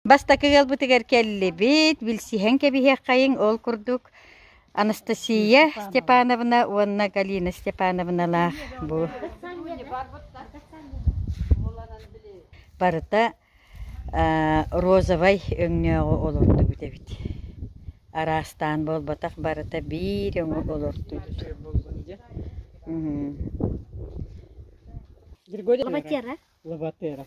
Бастакы ыалбытыгар кэллибит, билсиһэн кэбиһиэххэйиҥ ол курдук Анастасия Степановна уонна Галина Степановналаах бу барыта розовай өҥнөөҕү олордубут эбит. Араастаан буолбатах барыта биир өҥү олордубут. Григорий Лобатера. Лобатера.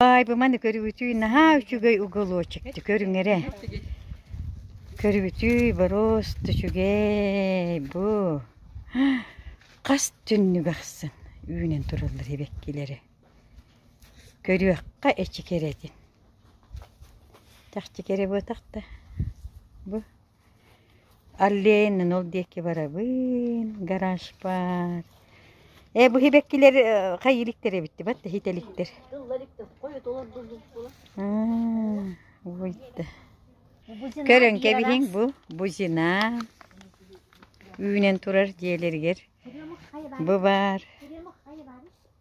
Баайбыманы көрүбүтүй наһаа үчүгэй уголочекты көрүҥэрэ. Көрүбүтүй бороос үчүгэй бу. Хас түннүк ахсын үүнэн тураллар эбэккилэри. Көрүөххэ эчи кэрэтин. Чахчы кэрэ буотах да. Бу Аллейнын ол диэки барабын, гаражпар. Ээ, бу һибэккилэр хайиликтэр эбиттибат да һитэликтэр. Көрөн кэбиһиҥ бу бузина. Үүнэн турар дьиэлэригэр бу баар.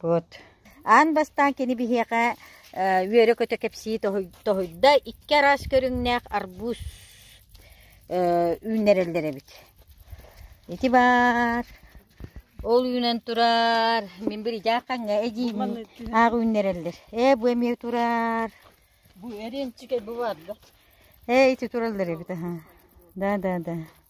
Вот. Аан бастаан кини биһиэхэ үөрэ-көтө кэпсии тоһуйда, икки араас көрүҥнээх арбуз үүннэрэллэр эбит. Ити баар. Ол үүнэн турар. Мин биридьааххаҥҥа эдьиийим аах үүннэрэллэр. Ээ, бу эмиэ турар. Бу эриэнчикэй бу баар да. Ээ, ити тураллар эбит. Да, да, да.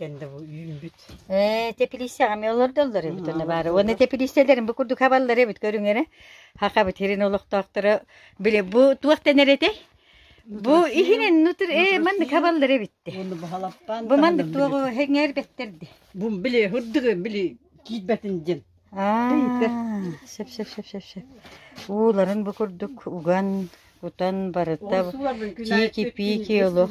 Ээ, теплицаҕа эмиэ олордоллор эбит онно баара. Уонна теплицаларын бу курдук хабаллар эбит көрүҥ эрэ. Хахабыт сирин олохтоохторо били бу туох дэнэр этэй? Бу иһинэн нутыр ээ маннык хабаллар эбитте. Оны бухалаппан. Бу маннык туоҕу хеңэр бэттерде. Бу били хурдугы били киитбэтин дин. Аа, шеп шеп шеп шеп шеп. Ууларын бу курдук уган, кутан барыта чики-пики олох.